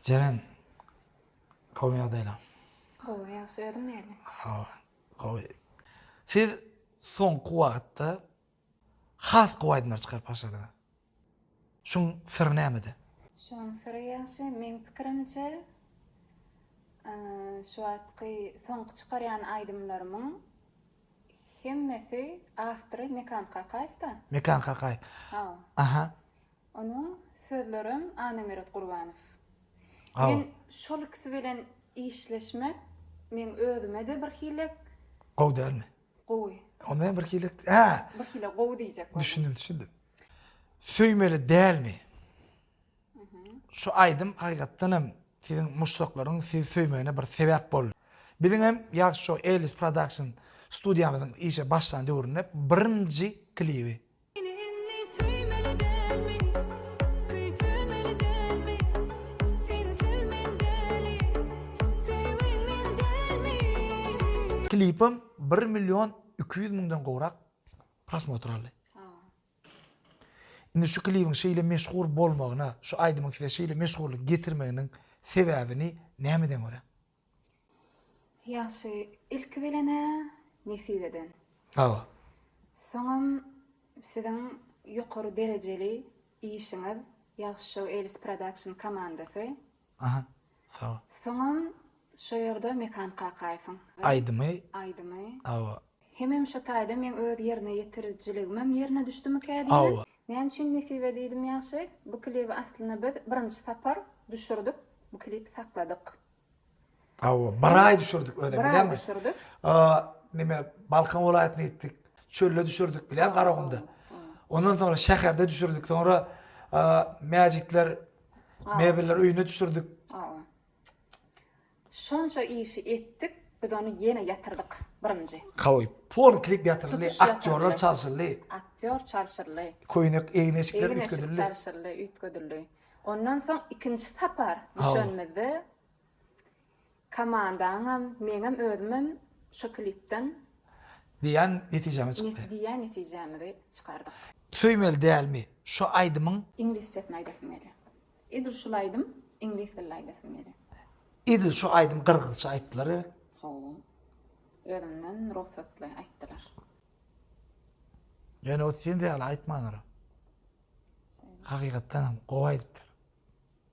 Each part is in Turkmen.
Jeren, gowy ýagdaýlaň? Gowy, ýagşy, özüň nädip? Hawa, gowy. Siz soňky wagtda has gowy aýdymlar çykaryp başladyňyz. Şuň syry nämede? Şuň syry ýagşy, meň pikirimçe, şu wagtky soňky çykarýan aýdymlarymyň Hemmesi awtory Mekan Kakaýew da. Mekan Kakaýew. Hawa. Aha. Onuň sözlerem Annamyrat Gurbanow. Hawa. Men şol ikisi bilen işleşmek meň özüme-de bir hilek. Gowy dälmi? Gowy. Onda hem bir hilek. Hä. Bir hile gowy diýjek boldum. Düşündim, düşündim. Söýmeli dälmi? Şu aýdym hakykatdan hem siziň muşdaklaryň sizi söýmegine bir sebäp boldy. Biziň hem Ýagşy Show Ellis Production studiýamyzyň işe başlan döwründe birinji klibi. Meni indi söýmeli dälmi, küýsemeli dälmi, sensiz men däli, söýgüň men dälmi. Klipim bir million iki ýüz müňden gowrak prosmotr aldy. Indi şu klibiň şeýle meşhur bolmagyna, şu aýdymyň size şeýle meşhurlyk getirmeginiň sebäbini nämeden görä? Ýagşy, ilki bilen-ä Nesibeden. Hawa. Soňam siziň ýokary derejeli işiňiz Ýagşy Show Elis Production komandasy. Aha sag. Soňam şo ýerde Mekan Kakaýewiň. Aýdymy. Aýdymy. Hawa. Hemem şo taýda meň öz ýerine ýetirijiligimem ýerine düşdümikä diýýän. Hawa. Näme üçin nesibe diýdim ýagşy? Bu klibi aslynda biz birinji sapar düşürdik. Bu klip sakladyk. Hawa, bir aý düşürdik özem bileňmi? Bir aý düşürdik. Neme, Balkan welaýatyna gitdik. Çölde düşürdik bileň Garagumda. Ondan soňra şäherde düşürdik. Soňra Mäjitler Mebelleri öýüne düşürdik. Şonça işi etdik, biz ony ýene ýatyrdyk birinji. Kawy. Pol klip ýatyryldy, aktýorlar çalşyldy. Aktýor çalşyldy. Köýnek, egin-eşikler üýtgedildi. Egin-eşik çalşyldy, üýtgedildi. Ondan soň ikinji sapar düşenimizde Komandaňam meňem özümem şo klipden. Diýýän netijämi çykdy. Diýýän netijämizi çykardyk. Söýmeli dälmi şo aýdymyň. Iňlisçesini aýdasym gelýä. Edil şul aýdym iňlis dilli aýdasym gelýä. Edil şo aýdym gyrgyzça aýtdylar e. Hawa. Özümden rugsatly aýtdylar. Ýöne ot sende ýaly aýtmandyr. Hakygatdanam gowy aýdypdyr.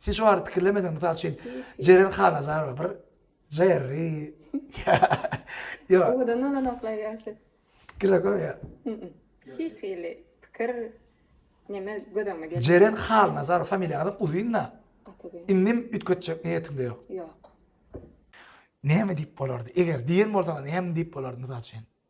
Sen şu barada pikirlemediňmi? Mysal üçin, Jeren Hanazarowa bir Jerry. Ýok. Owadan bolanoklar ýaşy. Pikirler köp ýa. Hiç hili pikir neme göz öňüme gelmedi. Jeren Halnazarow familiýaňyzam uzyn-da. Gaty. Indim üýtgetjek niýetiňde ýok. Ýok. Näme diýip bolardy? Eger diýen bolsaňyz näme diýip bolardy mysal üçin?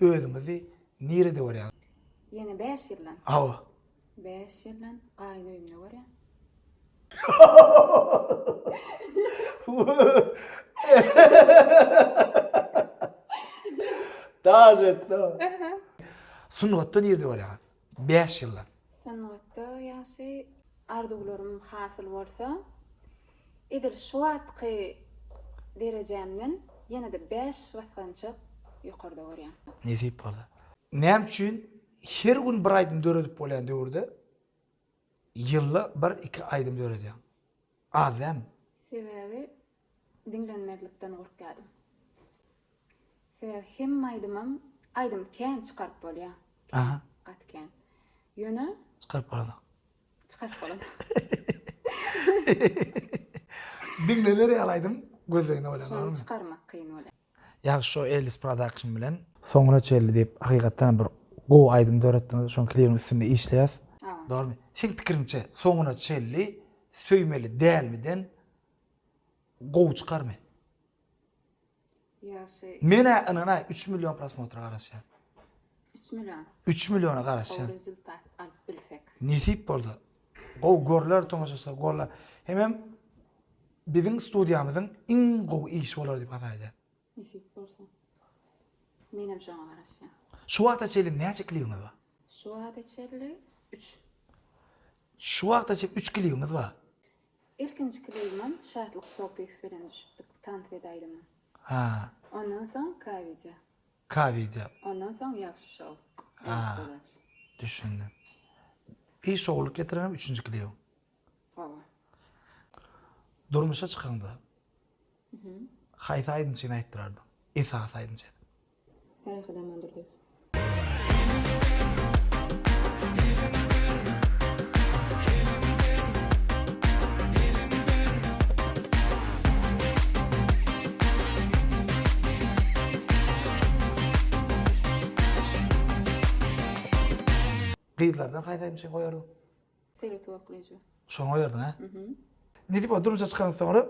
Özüňizi nirede görýäňiz? Ýene bäş ýyldan. Hawa. Bäş ýyldan gaýyn öýümde görýän. Daş etdi. Sungatda nirede görýäňiz? Bäş ýyllap. Sungatda ýagşy arzuwlarym hasyl bolsa, edil şu wagtky derejämden ýene-de bäş basgançak ýokarda görýän. Nesip bolsa. Näme üçin her gün bir aýdym döredip bolýan döwürde Ýylda bir iki aýdym döredýäň. Az dämi? Sebäbi diňlenmezlikden gorkýadym. Sebäbi hemme aýdymam aýdym kän çykaryp bolýa. Kän gaty kän. Ýöne. Çykaryp bolanok. Çykaryp bolanok. Diňlener ýaly aýdym gözleginde bolýa dogrymy? Şony çykarmak kyn bolýa. Ýagşy şo Ellis production bilen. Soňuna çenli diýip hakykatdanam bir gowy aýdym döretdiňiz şoň klibiň üstünde işleýäs. Dogrymy? Seň pikiriňçe soňuna çenli söýmeli dälmi den gowy çykarmy? Ýagşy. Menä ynanaý üç million prosmotra garaşýan. Üç million. Üç milliona garaşýan. Gowy rezultat alyp bilsek. Nesip bolsa Gowy görler tomaşaçylar golla hemem biziň studiýamyzyň iň gowy işi bolar diýip has aýdýan. Nesip bolsa. Menem şoňa garaşýan. Şu wagta çenli näçe klibiňiz bar? Şu wagta çenli üç. Şu wagta çenli üç klibiňiz bar? Ilkinji klibimem Şatlyk Sopyýew bilen düşüpdik, tans edäýdim. Ha. Ondan soň K-wideo. Ka wideo. Ondan soň ýagşy şou. Ýagşy gazanç. Düşündim. Bir şowluk getirenem üçünji klibiň. Hawa. Durmuşa çykaňda. Mhm. Haýsy aýdymçyny aýtdyrardyň? Esasy aýdymçy edip. Ferhat Amandurdyýew. Gyzlardan haýsayny şeýle goýardyň? Seretip oklaýjy. Şony goýardyň a? Nidip o durmuşa çykandan soňra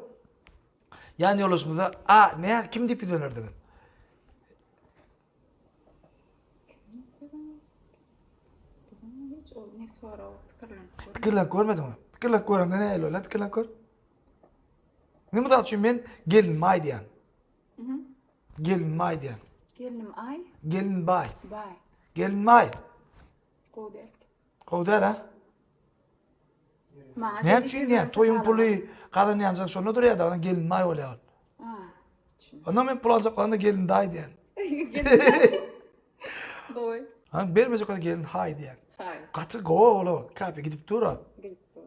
ýan ýoldaşyňyza a nä kim diýip ýüz ölerdiňiz? Pikirlenip görmediňmi? Pikirlenip görende nähili bolar? Pikirlenip gör. Indi mysal üçin men gelinime aý diýýän. Gelinime aý diýýän. Gelinim aý. Gelin baý. Baý. Gelinime aý. Gowy däl. Gowy däl ha? Maňa Näme üçin diýýän? Toýuň puly gazanýanjyň şonda durýar da, gelinime aý bolýar. Onda men pul aljak bolanda gelin daý diýen. Gowy. Ha bermejek bolsa gelin haý diýen. Haý. Gaty gowy ola. Kape gidip dur. Gidip dur.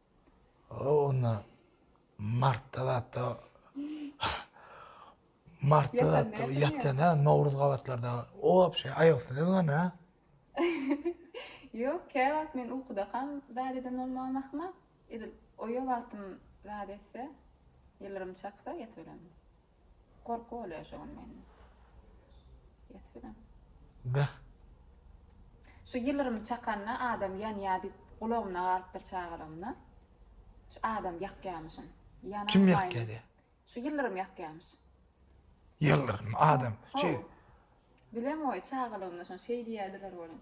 O onda martda zatda martda zatda ýatýan ha nowruz gabatlarda o wapşe aýagystyny ýazyňan ha. Ýok kä wagt men ukudakam zat eden bolmagam ahmal edil oýa wagtym zat etse ýylrym çaksa ýatyberemdi. Gorky bolýar şu gün mende. Ýat bilen. Beh. Şu ýylyrymy çakanda adam ýanýa diýip gulagymda galypdyr çagalygymda. Şu adam ýakýamyşyn. Ýana Kim ýakýa de? Şu ýyldyrym ýakýamyş. Ýyldyrym adam. Şu. Bilemoý çagalygymda şon şeý diýýärdiler welin.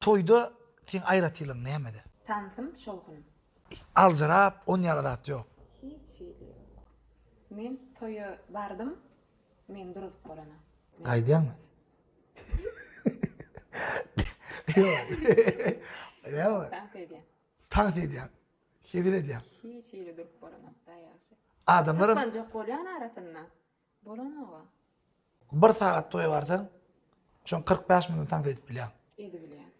Toýda seň aýratylygyň nämede? Tansym şowhun. Aljyrap on ýara zat ýok. Hiç hili ýok. Men toýa bardym, men duruzyp bolana. Gaýdýaňmy? Ýok. Ýok. Tans edýän. Tans edýän. Sezil edýän. Hiç ýeri durup bolanok da ýagşy. Adamlaram. Saklanjak bolýan arasynda. Bolanoga. Bir sagat toýa barsaň, şoň kyrk bäş müňden tans edip bilýäň. Edibilýär.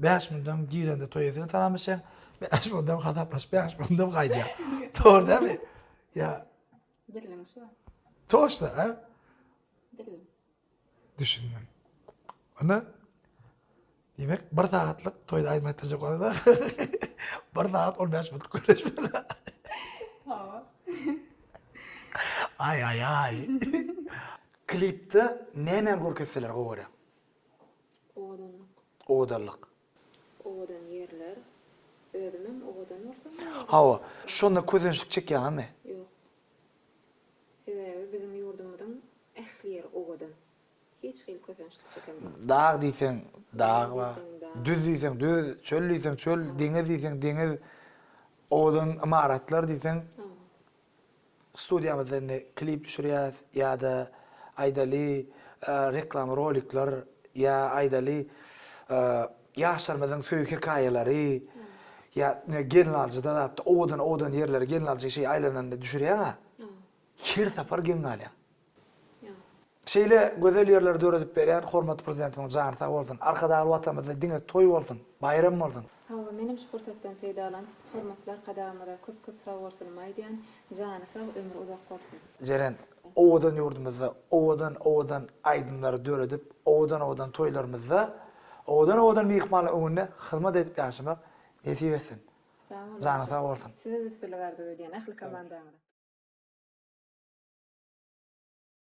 Bäş müňden girende toýa sen salamlaşýaň, bäş müňden hasaplaşyp bäş müňden gaýdýaň. Dogry dälmi? Ýa. Birligiň şu. Toşna, a? Birligiň. Düşündim. Onda Diýmek, bir sagatlyk toýda aýdym aýtdyrjak bolanda, bir sagat on bäş minut gürleşmeli. Hawa. Aý-aý-aý. Klipde nämä görkezseler gowy görýäň? Owadanlyk. Owadanlyk. Owadan ýerler. Özümem owadan bolsam bu ýerde. Hawa, şonda kösençlik çekýäňizmi? Ýok. Sebäbi biziň ýurdumyzyň ähli ýeri owadan. Hiç hili kösençlik çeken ýok. Dag diýseň dag bar. Düz diýseň düz, çöl diýseň çöl, deňiz diýseň deňiz, owadan ymaratlar diýseň. Studiýamyzda indi klip düşürýäs ýa-da aýdaly reklama rolikler ýa aýdaly ýaşlarymyzyň söýgi hekaýalary ýa gelnaljyda zatda owadan owadan ýerleri gelnaljy şeý aýlananda düşürýäňa her sapar geň galýaň. Şeýle gözel ýerleri döredip berýän hormatly Prezidentimiziň jany sag bolsun. Arkadagly Watanymyzda diňe toý bolsun, baýram bolsun! Hawa, menem şu pursatdan peýdalanyp, hormatly Arkadagymyza köp-köp sagbolsunymy aýdýan, jany sag, ömri uzak bolsun! Jeren, owadan ýurdumyzda owadan-owadan aýdymlary döredip, owadan-owadan toýlarymyzda, owadan-owadan myhmanlar öňünde hyzmat edip ýaşamak nesip etsin! Sag boluň. Janyň sag bolsun. Size üstünlik arzuw edýän ähli komandaňyza.